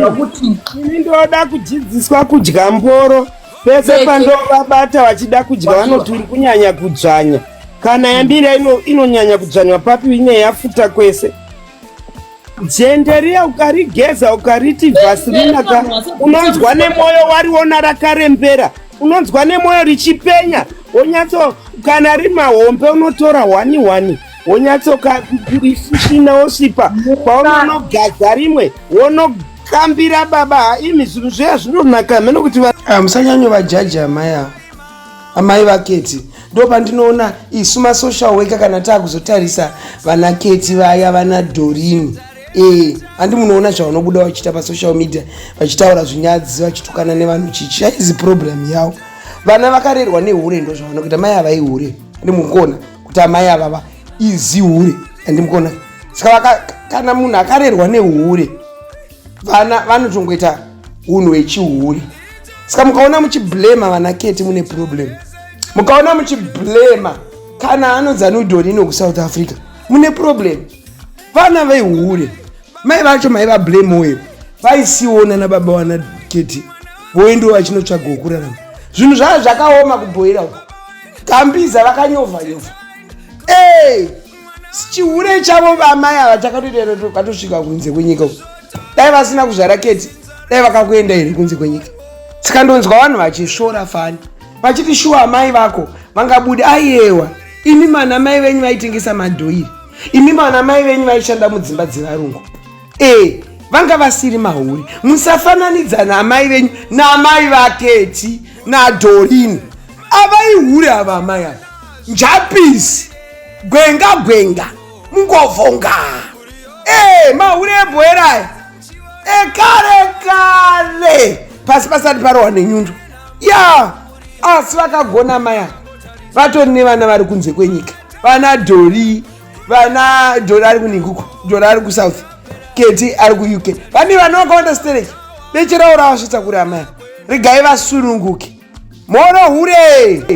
kuti ini ndoda kudzidziswa kudya mboro pese pandovabata vachida kudya vanoti uri kunyanya kudzvanya kana yambira inonyanya kudzvanywa papi ine yafuta kwese jenderiya ukarigeza ukariti vhasilina ka unonzwa nemwoyo wariona rakarembera unonzwa nemwoyo richipenya wonyatso kana rimahombe unotora hwani hwani wonyatsoka isina wosipa paunonogadza rimwe wono kambira baba imi zvinhu zviya zvinonaka hameno kuti ah, musanyanyo vajaji amai avo amai vaketi ndo pandinoona isu masocial worker kana taakuzotarisa vana keti vaya vana dorini ee eh, handi munoona zvavanobuda vachiita pasocial media vachitaura zvinyadzi vachitukana nevanhu chichi yaizi problem yavo vana vakarerwa nehure ndo zvavanokuita mai havaihure ndi mukona kuti amai avava izihure and mukona saka kana munhu akarerwa nehure vana vanotongoita unhu wechihure saka mukaona muchiblema vana keti mune problem mukaona muchiblema kana anodzanudhonino kusouth africa mune problem vana vehure mai vacho mai vablame oyo vaisiona nababa wana keti voendiwo vachinotsvaga wokurarama zvinhu zvaa zvakaoma kubhoira uko gambiza vakanyovha nyovha ee chihure chavo vamai ava chakatotokatusvika kunze kwenyika uku dai vasina kuzvara keti dai vakakuenda here kunze kwenyika saka ndonzwa vanhu vachisvora fani vachiti shuwa amai vako vangabude aiyewa imi mana mai venyu vaitengesa madhoiri imi mana mai venyu vaishanda mudzimba dzevarungu e vanga vasiri mahuri musafananidza naamai venyu naamai vaketi nadorini avaihure ava amai ava njapisi gwenga gwenga mungovonga e mahure ebhoeraya ekare kare pasi pasati parohwa nenyundo ya asi vakagona maya vatori nevana vari kunze kwenyika vana dori vana jona ari kunhinguko jona ari kusouth keti ari kuuk vane vana vakawanda stereki becherawo ravasvitsa kuri amai regai vasununguke mhoro hure